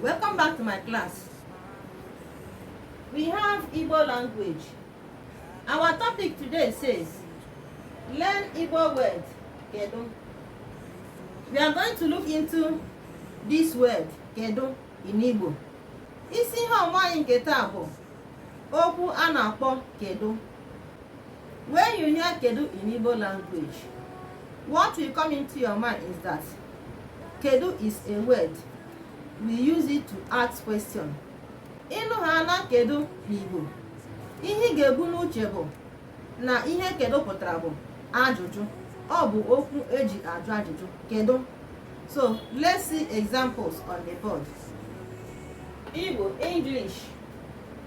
Welcome back to my class. We have Igbo language. Our topic today says learn Igbo word kedu. We are going to look into this word kedu in Igbo. Isi ihe ọmụmụ anyị nke taa bụ okwu a na-akpọ kedu. When you hear Kedu in Igbo language, what will come into your mind is that Kedu is a word. We use it to ask question. Ị nụ ha na Kedu n'Igbo, ihe ị ga-ebu n'uche bụ na ihe Kedu pụtara bụ ajụjụ. Ọ bụ okwu eji ajụ ajụjụ. Kedu? So, let's see examples on the board. Igbo, English.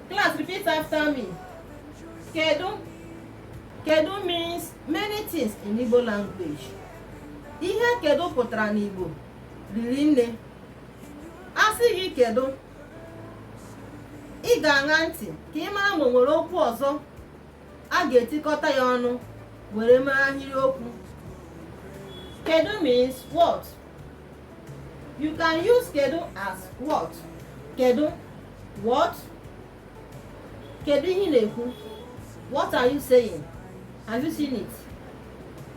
Class, repeat after me. kedu kedu means many things in Igbo language ihe kedu pụtara n'Igbo riri nne a sị gị kedu ị ga-aṅa ntị ka ị mara ma o nwere okwu ọzọ a ga-etikọta ya ọnụ were mee ahịrịokwu kedu means what you can use kedu as what kedu what kedu ihe ị na-ekwu what are you saying have you seen it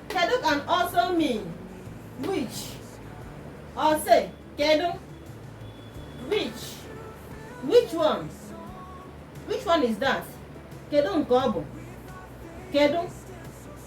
kedu can also mean which or say kedu which which one which one is that kedu nke ọ bụ kedu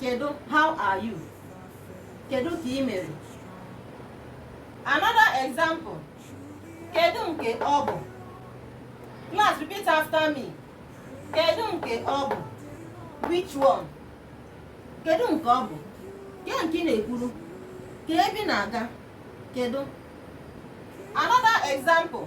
kedu how are you kedu ka ị mere another example kedu nke ọ bụ class repeat after me kedu nke ọ bụ which one kedu nke ọ bụ ke nke ị na-ekwuru ke ebe ị na-aga kedu another example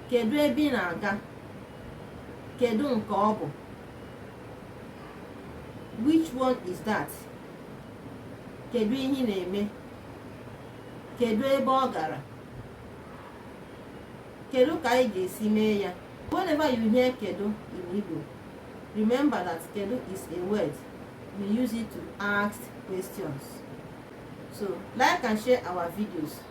kedu ebe ị na-aga kedu nke ọ bụ which one is that kedu ihe ị na-eme kedu ebe ọ gara kedu ka anyị ga-esi mee ya whenever you hear kedu in Igbo remember that kedu is a word we use it to ask questions so like and share our videos